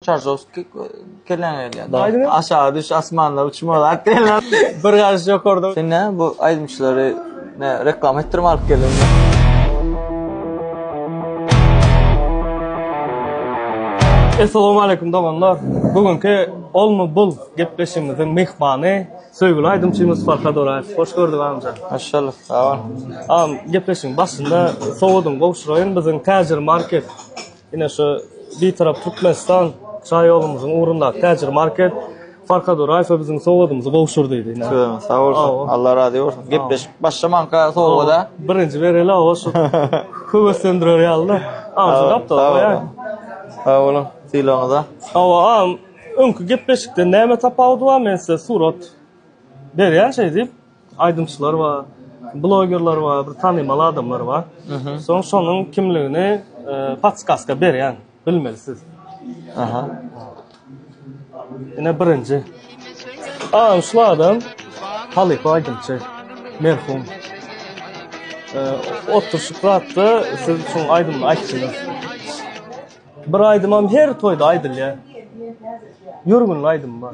Çarzowski kelläňe gelýär. Aýdyň. Aşaga düş, asmanda uçma zat diýenler. Bir garşy ýokarda. Sen näme bu aýdymçylary nä reklama etdirip alyp geldiňmi? Essalawmaleýkum doganlar! Bu günki Olmy bul gepleşigimiziň myhmany söýgüli aýdymçymyz Farhad Oraýew. Hoş gördük amja. Hoş bulduk, sag bol. Agam gepleşigiň başynda sowadyňy gowşuraýyn, biziň Täjirmarket Ine şu Bitarap Türkmenistan şaýolumyzyň ugrundaky täjir market Farhad Oraýewe biziň sowgadymyzy gowşurdy. Sag bolsun. Allah razy bolsun. Gepleşip başlamanka sowgada. Birinji bereli awa şu höweslendirer ýalyda. Sag boluň sylagyňyza. Hawa agam öňki gepleşikden näme tapawudy bar men size surat berýän şeýdip. aýdymçylar bar, blogerler bar, bir tanymal adamlar bar. Soň şonuň kimligini podskaska berýän, bilmeli siz. Aha. Ine birinji. Aa, şu adam halypa aýdymçy. Merhum. Oturşyp zatda siz şu aýdymyny aýtdyňyz. Bir aýdymam her toýda aýdylýar. Ýörgünli aýdym bar.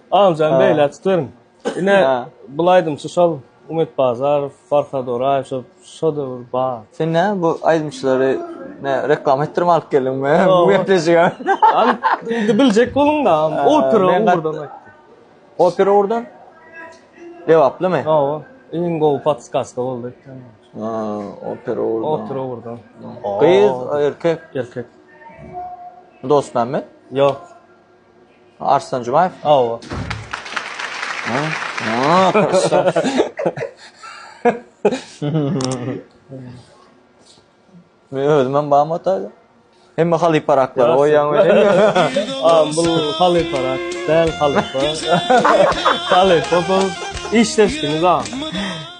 Agamjan beýle açyp beriň. Ine bul aýdymçy şol Umyt Bazarow, Farhad Oraýew şo şodewür bar. Sen nä bu aýdymçylary nä reklama etdirip alyp geldiňmi bu gepleşige? Indi biljek boluňda opera ugurdan aýtdy. Opera ugurdan? Lebaplymy? Hawa. Iň gowy podskaska boldy ekeni. Ha, opera ugurdan. Opera ugurdan. Gyz, erkek? Erkek. Dostmämmet? Ýok. Arslan Jumaýew. Hawa. Men özüm hem bam ataýda. Hemme halyparaklar oýaň welin. Am bul halyparak, däl halypa. Halypa bul. Işdeşdiniz ha.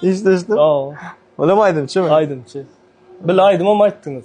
Işdeşdim. Hawa. Olam aýdymçymy? Aýdymçy. Bil aýdymam aýtdyňyz.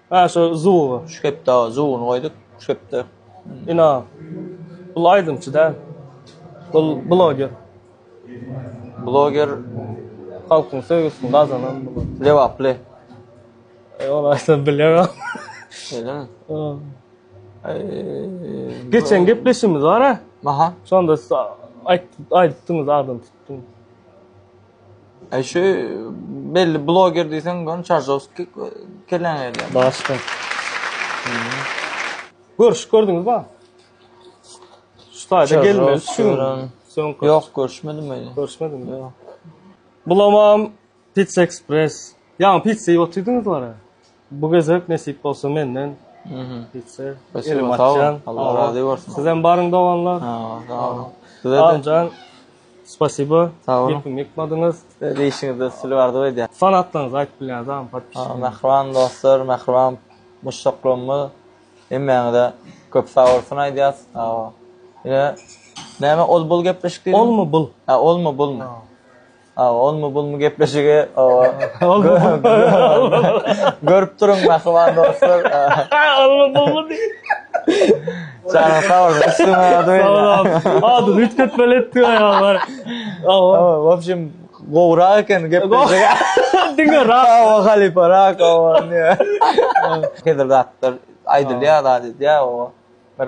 Hä şo zuw şu hepde zuwuny goýduk şu hepde ina bul aýdymçy däl bul bloger bloger halkyň söýgüsini gazanan lebaply ol aýtsam bilemok şeýlemi geçen gepleşigimiz bar a şonda siz aýdypdyňyz adam tutdum. Eý şu belli bloger diýseň göni çarzowski keleň gelýär. Başga. Görüşüp gördüňiz ba? Şu taýda gelmeli şu. Soňky. Ýok görüşmedim öýle. Görüşmediňiz mi? Ýok. Bulamam Pizza Express. Ýaňy pizza iýip otyrdyngyz wara. Bu gezek nesip bolsa menden gitse elim açan. Allah razy bolsun. Sizem baryň doganlar. Sag boluň. Sizeden Spasibo. Sag boluň. Gepimi ýykmadyňyz. Size işiňizde üstünlik arzuw edýän. Fanatlaryňyzy aýdyp bilýäňizmi podpisçiler? Mähriban dostlar, mähriban muşdaklarymyz hemmäňize köp sag bolsun aýdýas. Ine näme ol bul gepleşik diýdim. Olmy bul? Hä olmy bulmy? Awa olmy bulmy gepleşigi görüp duruň mähriban dostlar. Olmy bulmy diý. Çaga sag bol. Üstüňe ýadyň. Sag bol. Ady üýtgetmeli etdi ýaňy. Awa. W opşim gowrak eken gepleşigi. Diňe rak. Awa halypa rak awa. Häzir zatlar aýdylýar zat edýär awa. Bir